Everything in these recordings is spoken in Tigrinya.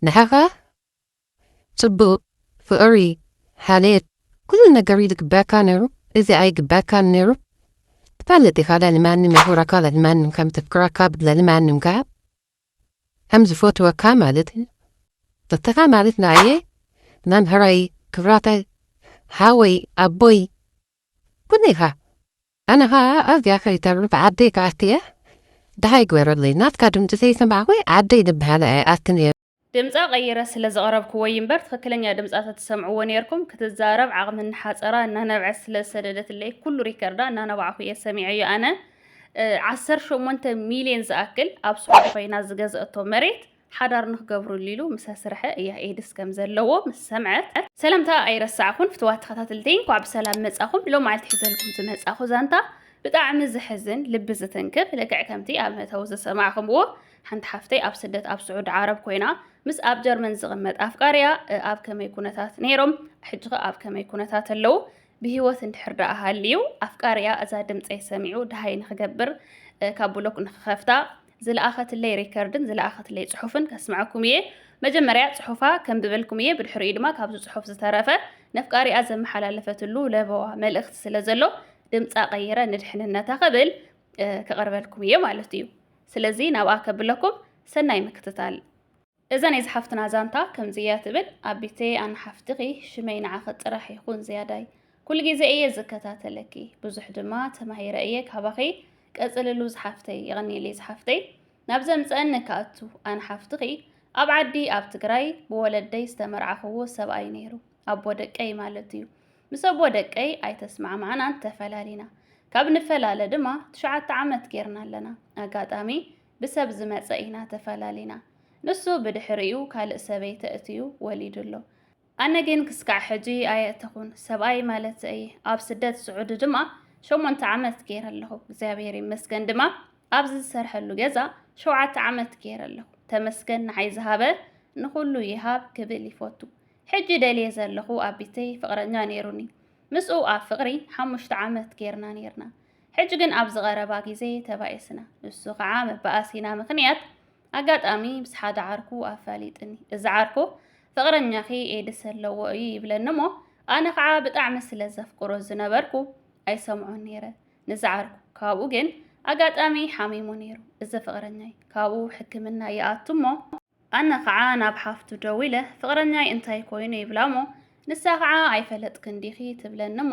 ንዓኻ ጽቡቕ፣ ፍቕሪ፣ ሓልዮት፣ ኩሉ ነገር እዩ ዝግበኣካ ነይሩ፣ እዚ ኣይግበኣካን ነይሩ። ትፈልጥ ኢኻ ልዕሊ ማንም የኽብረካ፣ ልዕሊ ማንም ከም ተፍቅረካ፣ ልዕሊ ማንም ከኣ ከም ዝፈትወካ ማለት እዩ። ንስኻ ማለት ንዓየ መምህረይ፣ ክብራተይ፣ ሓወይ፣ ኣቦይ ኩኒኻ ኣነ ኸኣ ኣዝያ ፈሪተሉ ብዓደይ ክኣቱ'የ ደሃይ ግበረለይ ናትካ ድምጺ ዘይሰማዕኩ ዓደይ ድበሃላ እየ ኣቲ ነይረ። ድምጻ ቀይረ ስለ ዘቕረብኩዎ'ዩ እምበር ትኽክለኛ ድምጻ ተትሰምዕዎ ነይርኩም። ክትዛረብ ዓቕሚ እናሓጸራ እናነብዐት ስለ ዝሰደደትለይ ኩሉ ሪከርዳ እናነባዕኩ እየ ሰሚዐዮ ኣነ። ዓሰርተ ሸሞንተ ሚልዮን ዝኣክል ኣብ ስዑዲ ኮይና ዝገዘእቶ መሬት ሓዳር ንክገብርሉ ኢሉ ምስ ኣስርሐ እያ ኤድስ ከም ዘለዎ ምስ ሰምዐት ሰላምታ ኣይረሳዕኹን ፍትዋት ተኸታተልተይ እንኳዕ ብሰላም መጻኹም ሎም መዓልቲ ሒዘልኩም ዝመጻኹ ዛንታ ብጣዕሚ ዘሕዝን ልቢ ዝትንክፍ ልክዕ ከምቲ ኣብ መእተዊ ዝሰማዕኹምዎ ሓንቲ ሓፍተይ ኣብ ስደት ኣብ ስዑድ ዓረብ ኮይና ምስ ኣብ ጀርመን ዝቕመጥ ኣፍቃርያ ኣብ ከመይ ኩነታት ነይሮም ሕጂ ኸ ኣብ ከመይ ኩነታት ኣለዉ ብሂወት እንድሕር ደኣ ሃልዩ ኣፍቃርያ እዛ ድምፀይ ሰሚዑ ድሃይ ንክገብር ካብ ብሎክ ንክኸፍታ ዝለኣኸትለይ ሪከርድን ዝለኣኸትለይ ጽሑፍን ከስምዐኩም እየ። መጀመርያ ጽሑፋ ከንብበልኩም እየ፣ ብድሕሪኡ ድማ ካብዚ ጽሑፍ ዝተረፈ ነፍቃሪኣ ዘመሓላለፈትሉ ለበዋ መልእኽቲ ስለ ዘሎ ድምጻ ቀይረ ንድሕንነታ ክብል ከቕርበልኩም እየ ማለት እዩ። ስለዚ ናብኣ ከብለኩም ሰናይ ምክትታል። እዛ ናይ ዝሓፍትና ዛንታ ከምዚ እያ ትብል ኣቢተየ ኣነ ሓፍትኺ ሽመይ ንዓኺ ጥራሕ ይኹን ዝያዳይ ኩሉ ግዜ እየ ዝከታተለኪ ብዙሕ ድማ ተማሂረ እየ ካባኺ ቀፅልሉ ዝሓፍተይ የቐንየለይ ዝሓፍተይ ናብ ዘምፀአኒ ክኣቱ ኣነ ሓፍትኺ ኣብ ዓዲ ኣብ ትግራይ ብወለደይ ዝተመርዓኽዎ ሰብኣይ ነይሩ ኣቦ ደቀይ ማለት እዩ ምስ ኣቦ ደቀይ ኣይተስማዕማዕናን ተፈላሊና ካብ ንፈላለ ድማ ትሽዓተ ዓመት ጌርና ኣለና ኣጋጣሚ ብሰብ ዝመጸ ኢና ተፈላሊና ንሱ ብድሕሪኡ ካልእ ሰበይቲ ኣእትዩ ወሊዱ ኣሎ ኣነ ግን ክስካዕ ሕጂ ኣየእተኹን ሰብኣይ ማለት ኣየ ኣብ ስደት ስዑዲ ድማ ሸሞንተ ዓመት ገይረ ኣለኹ እግዚኣብሔር ይመስገን ድማ ኣብዚ ዝሰርሐሉ ገዛ ሸውዓተ ዓመት ገይረ ኣለኹ ተመስገን ንዓይ ዝሃበ ንኹሉ ይሃብ ክብል ይፈቱ ሕጂ ደልየ ዘለኹ ኣቢተይ ፍቕረኛ ነይሩኒ ምስኡ ኣብ ፍቕሪ ሓሙሽተ ዓመት ገይርና ነይርና ሕጂ ግን ኣብዚ ቀረባ ግዜ ተባኢስና። ንሱ ከኣ መባኣሲና ምኽንያት ኣጋጣሚ ምስ ሓደ ዓርኩ ኣፋሊጥኒ። እዚ ዓርኩ ፍቕረኛኺ ኤድስ ኣለዎ እዩ ይብለኒ እሞ ኣነ ከኣ ብጣዕሚ ስለ ዘፍቅሮ ዝነበርኩ ኣይሰምዖን ነይረ ንዚ ዓርኩ። ካብኡ ግን ኣጋጣሚ ሓሚሙ ነይሩ እዚ ፍቕረኛይ። ካብኡ ሕክምና ይኣቱ እሞ። ኣነ ኸዓ ናብ ሓፍቱ ደዊለ ፍቕረኛይ እንታይ ኮይኑ ይብላ'ሞ ንሳ ኸዓ ኣይፈለጥክን ዲኺ ትብለኒ'ሞ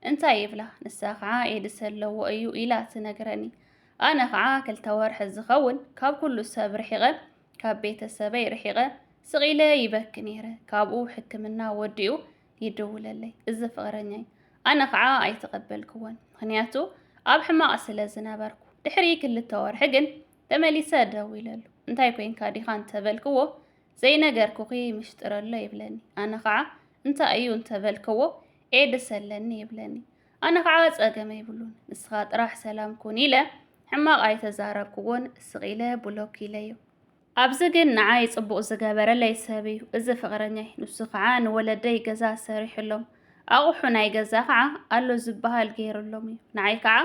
እንታይ ይብላ ንሳ ኸዓ ኤድስ ኣለዎ እዩ ኢላ ትነግረኒ ኣነ ኸዓ ክልተ ወርሒ ዝኸውን ካብ ኩሉ ሰብ ርሒቐ ካብ ቤተሰበይ ርሒቐ ስቕ ኢለ ይበኪ ነይረ ካብኡ ሕክምና ወዲኡ ይድውለለይ እዚ ፍቕረኛይ ኣነ ኸዓ ኣይተቐበልክዎን ምኽንያቱ ኣብ ሕማቕ ስለ ዝነበርኩ ድሕሪ ክልተ ወርሒ ግን ተመሊሰ ደዊለሉ፣ እንታይ ኮይንካ ዲኻ እንተ በልክዎ፣ ዘይነገርኩኺ ምሽጥር ኣሎ ይብለኒ። ኣነ ኸዓ እንታይ እዩ እንተ በልክዎ፣ ኤድስ ኣለኒ ይብለኒ። ኣነ ኸዓ ጸገም ኣይብሉን፣ ንስኻ ጥራሕ ሰላም ኩን ኢለ ሕማቕ ኣይተዛረብክዎን፣ ስቕ ኢለ ብሎክ ኢለዮ። ኣብዚ ግን ንዓይ ጽቡቕ ዝገበረለይ ሰብ እዩ እዚ ፍቕረኛይ፣ ንሱ ኸዓ ንወለደይ ገዛ ሰሪሑሎም፣ ኣቑሑ ናይ ገዛ ኸዓ ኣሎ ዝበሃል ገይሩሎም እዩ። ንዓይ ኸዓ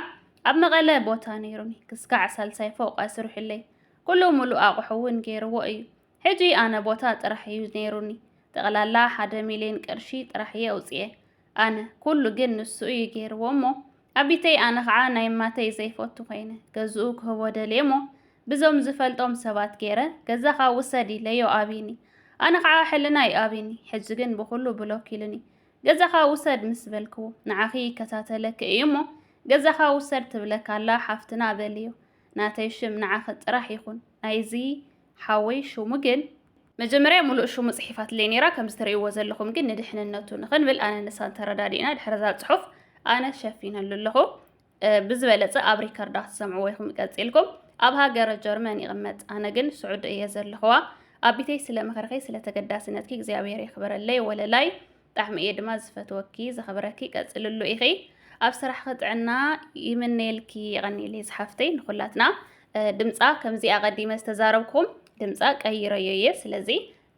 ኣብ መቐለ ቦታ ነይሩኒ ክስካዕ ሳልሳይ ፎቕ ኣስሪሑለይ ኩሉ ሙሉእ ኣቑሑ እውን ገይርዎ እዩ። ሕጂ ኣነ ቦታ ጥራሕ እዩ ነይሩኒ ጠቕላላ ሓደ ሚልየን ቅርሺ ጥራሕ እየ ኣውጺኤ ኣነ ኩሉ ግን ንሱ እዩ ገይርዎ እሞ ኣቢተይ ኣነ ከዓ ናይ ማተይ ዘይፈቱ ኮይነ ገዝኡ ክህቦ ደልየ እሞ ብዞም ዝፈልጦም ሰባት ገይረ ገዛኻ ውሰድ ኢለዮ ኣቢኒ ኣነ ከዓ ሕልናይ ኣቢኒ ሕጂ ግን ብኩሉ ብሎክ ኢሉኒ ገዛኻ ውሰድ ምስ በልኩ ንዓኺ ይከታተለኪ እዩ እሞ ገዛኻ ውሰድ ትብለካ ኣላ ሓፍትና በልዮ ናተይ ሽም ንዓኺ ጥራሕ ይኹን ናይዚ ሓወይ ሽሙ ግን መጀመርያ ሙሉእ ሽሙ ጽሒፋትለይ ነይራ ከምዚ ትርእይዎ ዘለኹም ግን ንድሕንነቱ ንኽንብል ኣነን ንሳን ተረዳዲእና ድሕሪ እዛ ጽሑፍ ኣነ ሸፊነሉ ኣለኹ ብዝበለጸ ኣብ ሪከርዳ ትሰምዕዎ ኢኹም ቀጺልኩም ኣብ ሃገረ ጀርመን ይቕመጥ ኣነ ግን ስዑዲ እየ ዘለኽዋ ኣብ ቢተይ ስለ ምኽርኺ ስለ ተገዳስነትኪ እግዚኣብሔር የኽብረለይ ወለላይ ጣዕሚ እየ ድማ ዝፈትወኪ ዘኽብረኪ ቀጽልሉ ኢኺ ኣብ ስራሕኺ ጥዕና ይምነየልኪ የቐኒለይ ዝሓፍተይ ንኹላትና ድምፃ ከምዚኣ ቀዲመ ዝተዛረብኩም ድምፃ ቀይረዮ እየ ስለዚ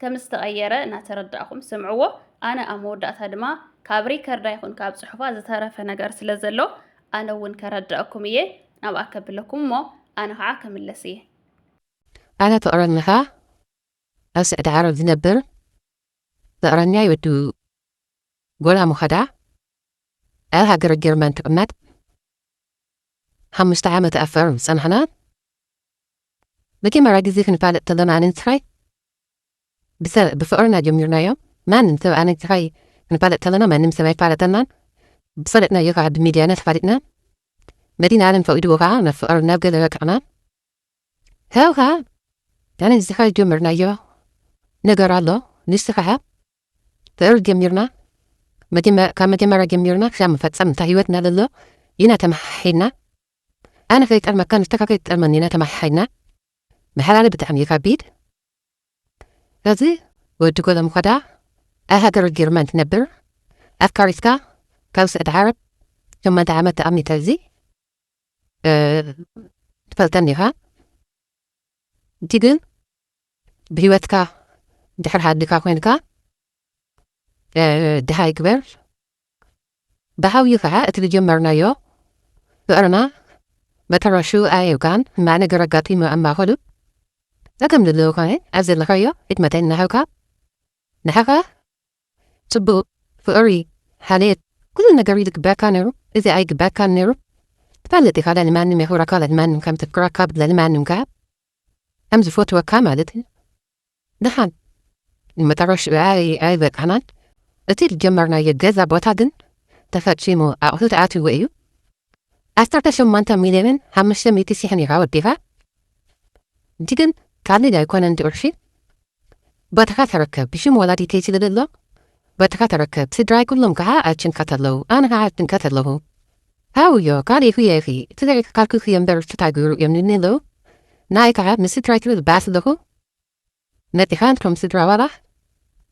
ከም ዝተቐየረ እናተረዳእኹም ስምዕዎ። ኣነ ኣብ መወዳእታ ድማ ካብ ሪከርዳ ይኹን ካብ ጽሑፋ ዝተረፈ ነገር ስለ ዘሎ ኣነ እውን ከረድኣኩም እየ፣ ናብኣ ከብለኩም እሞ ኣነ ኸዓ ክምለስ እየ። ኣነ ፍቕረኛኻ ኣብ ስዕዲ ዓረብ ዝነብር ፍቕረኛይ ወዲ ጎላ ሞኸዳ ኣብ ሃገረ ጀርመን ክቕመጥ ሓሙሽተ ዓመት ኣብ ፈርም ዝጸናሕና መጀመርያ ግዜ ክንፋለጥ ከሎና ኣነን ጸሃይ ብሰብ ብፍቅርና ጀሚርናዮ ማንም ሰብ ኣነን ጸሃይ ክንፋለጥ ከለና ማንም ሰብ ኣይፋለጠናን ብዝፈለጥናዮ ከኣ ብሚድያና ተፋሊጥና መዲና ኣለም ፈቂድዎ ከኣ ናብ ፍቅር ናብ ገለ በቅዕና ካብኡ ከኣ ኣነን ጸሃይ ጀምርናዮ ነገር ኣሎ ንሱ ከኣ ፍቅር ጀሚርና ካብ መጀመርያ ጀሚርና ክሳብ መፈጸምታ ሂወትና ለሎ ኢና ተመሓሒና ኣነ ከይጠልመካ ንስካ ከይትጠልመኒ ኢና ተማሓሒና ምሕላለ ብጣዕሚ እዩ ከቢድ ከዚ ወዲ ጎሎም ከዳ ኣብ ሃገረ ጀርመን ትነብር ኣፍካሪትካ ካብ ስዕዲ ዓረብ ሸሞንተ ዓመት ተኣሚተ እዚ ትፈልጠኒ ኢኻ እቲ ግን ብሂወትካ ድሕር ሃድካ ኮይንካ ድሃይ ግበር ብሓውዩ ከኣ እቲ ዝጀመርናዮ ፍቕርና መጠረሽኡ ኣየውቃዕን ሕማቕ ነገር ኣጋጢሙ ኣብ ማእከሉ ጸገም ዘለዎ ኮነ ኣብ ዘለኻዮ ኢድ መጠን እናሃብካ ንዓኻ ጽቡቕ ፍቕሪ ሓልየት ኩሉ ነገር እዩ ዝግበኣካ ነይሩ እዚ ኣይግበኣካን ነይሩ ትፈልጥ ኢኻ ልዕሊ ማንም የኽብረካ ልዕሊ ማንም ከም ተፍቅረካ ልዕሊ ማንም ከኣ ከም ዝፈትወካ ማለት እዩ ድሓን ንመጠረሽትኡ ኣይበቃዕናን እቲ ዝጀመርናዮ ገዛ ቦታ ግን ተፈጺሙ ኣቑሑ ተኣትዩዎ እዩ ዓሰርተ ሸሞንተ ሚልዮንን ሓሙሽተ ሚእቲ ሺሕን ኢራ ወዲኻ እቲ ግን ካልድ ኣይኮነን እቲ ቅርሺ ቦታኻ ተረከብ ብሽም ወላዲተይ ስለ ዘሎ ቦታኻ ተረከብ ስድራይ ኩሎም ከኣ ኣይጭንቀት ኣለዉ ኣነ ከኣ ኣይጭንቀት ኣለኹ ሃውዮ ካሊእ ህየ ኢኺ ትግራይ ክካልክልኪ እምበር ፍታ ግብሩ እዮም ልኒ ኣለው ንኣይ ከዓ ምስ ስድራይ ክብል ባእ ስለኹ መፂኻ ንቶም ስድራ ዋላ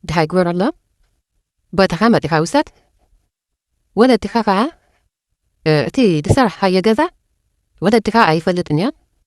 ድሃይ ግበረሎም ቦታኻ መፂኻ ውሰድ ወለድኻ ከዓ እቲ ዝሰራሕኻዮ ገዛ ወለድኻ ኣይፈልጥን እዮም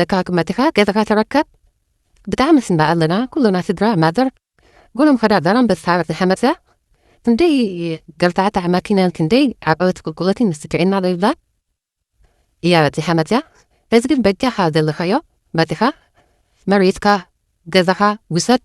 ደጋግመ ድኻ ገዛኻ ተረከብ ብጣዕሚ ንስንዳ ኣለና ኩልና ስድራ ማዘር ጉሎም ኸዳ ዛላምበሳ ዓመት ንሓመሰ ክንደይ ገልታዕታዕ ማኪናን ክንደይ ዓቀበት ቁልቁለትን ምስትግዒና ዶ ይብላ እያ በፂሓ መፅያ እዚ ግን በጃኻ ዘለኻዮ መፂኻ መሬትካ ገዛኻ ውሰድ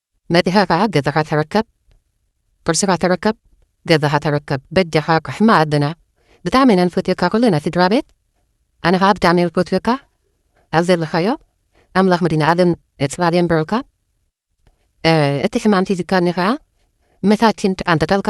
መድሃኻ ገዛኻ ተረከብ ቅርስኻ ተረከብ ገዛኻ ተረከብ በጃኻ ራሕማ ኣደና ብጣዕሚ ኢና ንፈትየካ ኩልና ስድራቤት ኣነ ኸኣ ብጣዕሚ ዝፈትየካ ኣብ ዘለኻዮ ኣምላኽ መድህናኣለም ጽላል የንብርልካ እቲ ሕማም ሒዝካኒ ኸኣ መታኪን ኣንተጠልካ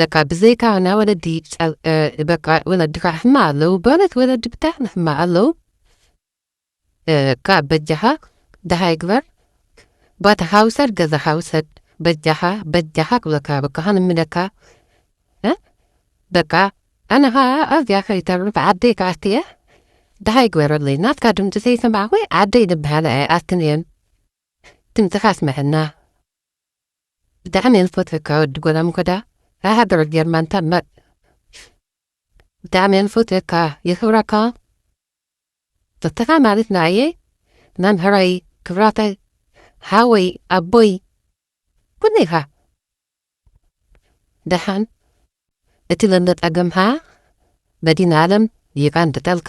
በቃ ብዘይካ ናይ ወለዲ በቃ ወለድካ ሕማ ኣለው በእውነት ወለዲ ብጣዕሚ ሕማ ኣለው ካብ በጃኻ ደሃይ ግበር ቦታ ሓውሰድ ገዛ ሓውሰድ በጃኻ በጃኻ ክብለካ በቃ ክንምለካ በቃ ኣነ ከዓ ኣዝያ ከይተርፍ ዓደይ ከዓ እየ ደሃይ ግበረለይ ናትካ ድምፂ ዘይሰማዕኹ ዓደይ ዝበሃለ ኣይኣትን እየን ድምፅኻ ኣስምዐና ብጣዕሚ ንፈትወካ ወዲ ጎዳምጎዳ ካብ ሃገረ ጀርመን ተምር ብጣዕሚ ንፈትወካ የኽብረካ ንስኻ ማለት ንኣየ መምህረይ ክብራተይ ሓወይ ኣቦይ ኩሉ ኢኻ ደሓን እቲ ዘሎ ጸገምካ መዲና ኣለም ይቐንጥጠልካ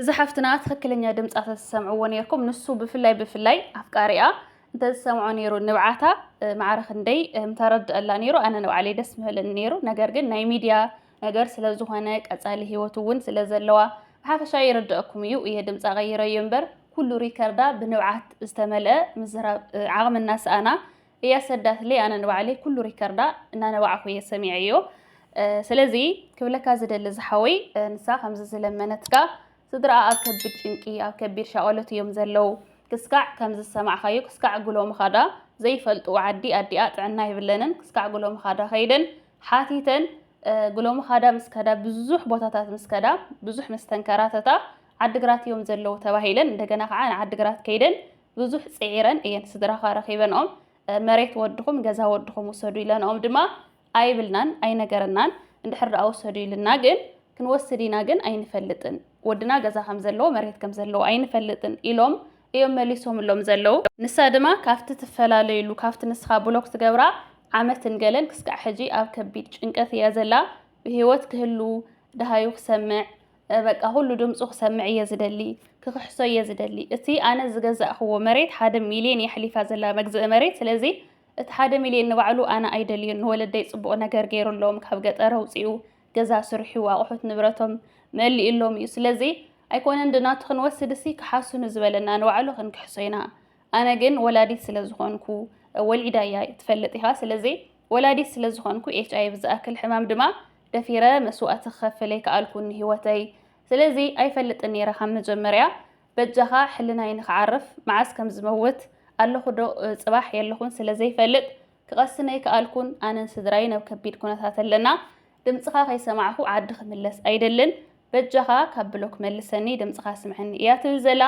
እዚ ሓፍትና ትክክለኛ ድምፃ ተዝሰምዕዎ ነርኩም ንሱ ብፍላይ ብፍላይ ኣፍቃሪኣ እንተዝሰምዖ ነይሩ ንብዓታ ማዕረ ክንደይ ምተረድአላ ነይሩ ኣነ ንባዕለይ ደስ ምበለኒ ነይሩ ነገር ግን ናይ ሚድያ ነገር ስለ ዝኾነ ቀጻሊ ሂወት እውን ስለ ዘለዋ ብሓፈሻ ይርድኣኩም እዩ እየ ድምፃ ቀይረዮ እምበር ኩሉ ሪከርዳ ብንብዓት ዝተመልአ ምዝራብ ዓቕሚ እናሰኣና እያ ሰዳትለይ ኣነ ንባዕለይ ኩሉ ሪከርዳ እናነባዕኩ እየ ሰሚዐዮ ስለዚ ክብለካ ዝደሊ ዝሓወይ ንሳ ከምዚ ዝለመነትካ ስድራኣ ኣብ ከቢድ ጭንቂ ኣብ ከቢድ ሻቐሎት እዮም ዘለው ክስካዕ ከም ዝሰማዕካዮ ክስካዕ ጉሎ ምኻዳ ዘይፈልጡ ዓዲ ኣዲኣ ጥዕና ይብለንን ክስካዕ ጉሎ ምኻዳ ከይደን ሓቲተን ጉሎ ምኻዳ ምስ ከዳ ብዙሕ ቦታታት ምስ ከዳ ብዙሕ ምስ ተንከራተታ ዓድግራት እዮም ዘለው ተባሂለን እንደገና ከዓ ንዓድግራት ከይደን ብዙሕ ፅዒረን እየን ስድራኻ ረኺበንኦም መሬት ወድኹም ገዛ ወድኹም ውሰዱ ኢለንኦም ድማ ኣይብልናን ኣይነገረናን እንድሕር ደኣ ውሰዱ ኢልና ግን ክንወስድ ኢና ግን ኣይንፈልጥን ወድና ገዛ ከም ዘለዎ መሬት ከም ዘለዎ ኣይንፈልጥን ኢሎም እዮም መሊሶምሎም ዘለዉ ንሳ ድማ ካብቲ ትፈላለዩሉ ካብቲ ንስኻ ብሎክ ትገብራ ዓመትን ገለን ክስካዕ ሕጂ ኣብ ከቢድ ጭንቀት እያ ዘላ ብህይወት ክህሉ ደሃዩ ክሰምዕ በቃ ኩሉ ድምፁ ክሰምዕ እየ ዝደሊ፣ ክኽሕሶ እየ ዝደሊ። እቲ ኣነ ዝገዛእኽዎ መሬት ሓደ ሚልዮን የሕሊፋ ዘላ መግዝኢ መሬት፣ ስለዚ እቲ ሓደ ሚልዮን ንባዕሉ ኣነ ኣይደልዮን፣ ንወለደይ ፅቡቕ ነገር ገይሩሎም፣ ካብ ገጠር ኣውፂኡ፣ ገዛ ስርሑ፣ ኣቑሑት ንብረቶም መሊኡሎም እዩ። ስለዚ ኣይኮነን ዶ ናቱ ክንወስድሲ ክሓሱ ንዝበለና ንባዕሉ ክንክሕሶ ኢና። ኣነ ግን ወላዲት ስለ ዝኾንኩ፣ ወሊዳ እያ ትፈልጥ ኢኻ፣ ስለዚ ወላዲት ስለ ዝኾንኩ ኤች ኣይቪ ዝኣክል ሕማም ድማ ደፊረ መስዋእቲ ክኸፍል ኣይከኣልኩን ንህይወተይ። ስለዚ ኣይፈልጥን ነይረ ካብ መጀመርያ። በጃኻ ሕልናይ ንኽዓርፍ መዓስ ከም ዝመውት፣ ኣለኹ ዶ ጽባሕ የለኹን ስለ ዘይፈልጥ ክቐስን ኣይከኣልኩን። ኣነን ስድራይን ኣብ ከቢድ ኩነታት ኣለና። ድምጽኻ ከይሰማዕኩ ዓዲ ክምለስ ኣይደልን። በጃኻ ካብ ብሎክ መልሰኒ ድምጽኻ ስምዐኒ እያ ትብል ዘላ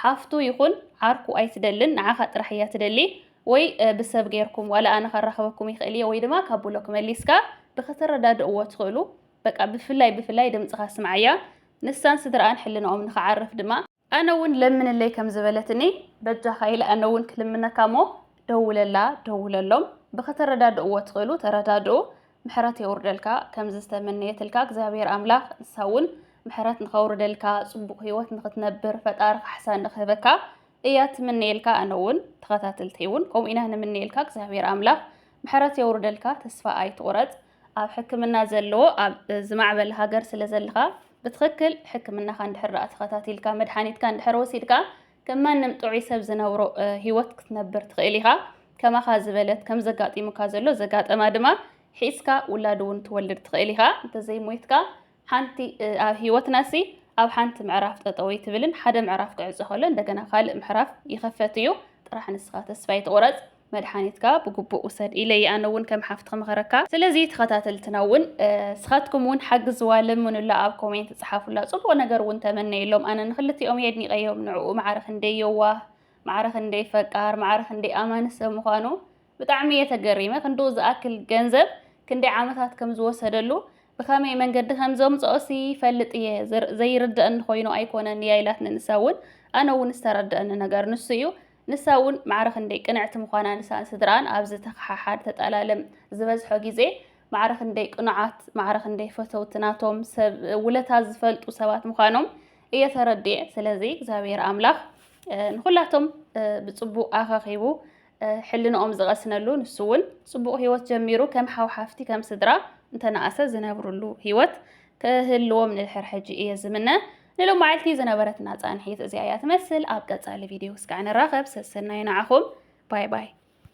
ሓፍቱ ይኹን ዓርኩ ኣይትደልን ንዓኻ ጥራሕ እያ ትደሊ ወይ ብሰብ ጌርኩም ዋላ ኣነ ከራኽበኩም ይኽእል እየ ወይ ድማ ካብ ብሎክ መሊስካ ብክትረዳድእዎ ትኽእሉ በቃ ብፍላይ ብፍላይ ድምጽኻ ስምዓያ ንሳን ስድራኣን ሕልናኦም ንኽዓርፍ ድማ ኣነ እውን ለምንለይ ከም ዝበለትኒ በጃኻ ኢለ ኣነ እውን ክልምነካ እሞ ደውለላ ደውለሎም ብክተረዳድእዎ ትኽእሉ ተረዳድኡ ምሕረት የውርደልካ ከምዚ ዝተመነየትልካ እግዚኣብሔር ኣምላኽ ንሳ እውን ምሕረት ንኸውርደልካ ጽቡቕ ህይወት ንኽትነብር ፈጣሪ ካሕሳ ንኽህበካ እያ ትምነየልካ ኣነ እውን ተኸታተልተይ እውን ከምኡ ኢና ንምነየልካ እግዚኣብሔር ኣምላኽ ምሕረት የውርደልካ ተስፋ ኣይትቑረጽ ኣብ ሕክምና ዘለዎ ኣብ ዝማዕበለ ሃገር ስለ ዘለኻ ብትኽክል ሕክምናኻ እንድሕር ዳኣ ተኸታቲልካ መድሓኒትካ እንድሕር ወሲድካ ከም ማንም ጥዑይ ሰብ ዝነብሮ ሂወት ክትነብር ትኽእል ኢኻ። ከማኻ ዝበለት ከም ዘጋጢሙካ ዘሎ ዘጋጠማ ድማ ሒዝካ ውላድ እውን ትወልድ ትኽእል ኢኻ እንተዘይሞይትካ ሓንቲ ኣብ ህይወትና ሲ ኣብ ሓንቲ ምዕራፍ ጠጠው ኣይትብልን ሓደ ምዕራፍ ክዕፆ ከሎ እንደገና ካልእ ምሕራፍ ይኸፈት እዩ ጥራሕ ንስኻ ተስፋ ኣይትቑረፅ መድሓኒትካ ብግቡእ ውሰድ ኢለ እየ ኣነ እውን ከም ሓፍቲ ክመኸረካ ስለዚ ተኸታተልትና እውን ስኻትኩም እውን ሓግዝዋ ለምኑላ ኣብ ኮሜንት ፀሓፉላ ፅቡቕ ነገር እውን ተመነየሎም ኣነ ንክልቲኦም እየ ኣድኒቐዮም ንዕኡ ማዕረ ክንደይ የዋህ ማዕረ ክንደይ ፈቃር ማዕረ ክንደይ ኣማኒ ሰብ ምዃኑ ብጣዕሚ እየ ተገሪመ ክንድኡ ዝኣክል ገንዘብ ክንደይ ዓመታት ከም ዝወሰደሉ ብኸመይ መንገዲ ከም ዘምጽኦሲ ይፈልጥ እየ ዘይርድኣኒ ኮይኑ ኣይኮነን እያ ኢላትኒ ንሳ እውን ኣነ እውን ዝተረድኣኒ ነገር ንሱ እዩ ንሳ እውን ማዕረ ክንደይ ቅንዕቲ ምዃና ንሳን ስድራኣን ኣብዚ ተኸሓሓድ ተጠላለም ዝበዝሖ ግዜ ማዕረ ክንደይ ቅኑዓት ማዕረ ክንደይ ፈተውቲ ናቶም ሰብ ውለታ ዝፈልጡ ሰባት ምዃኖም እየ ተረድኤ ስለዚ እግዚኣብሔር ኣምላኽ ንኹላቶም ብጽቡቅ ኣኸኺቡ ሕልንኦም ዝቐስነሉ ንሱ እውን ጽቡቕ ህይወት ጀሚሩ ከም ሓው ሓፍቲ ከም ስድራ እንተነኣሰ ዝነብርሉ ህይወት ክህልዎም ንድሕር ሕጂ እየ ዝምነ። ንሎማዓልቲ ዝነበረትና ጻንሒት እዚኣ እያ ትመስል። ኣብ ቀጻሊ ቪድዮ እስካዕ ንራኸብ። ሰሰናዩ ንዓኹም። ባይ ባይ።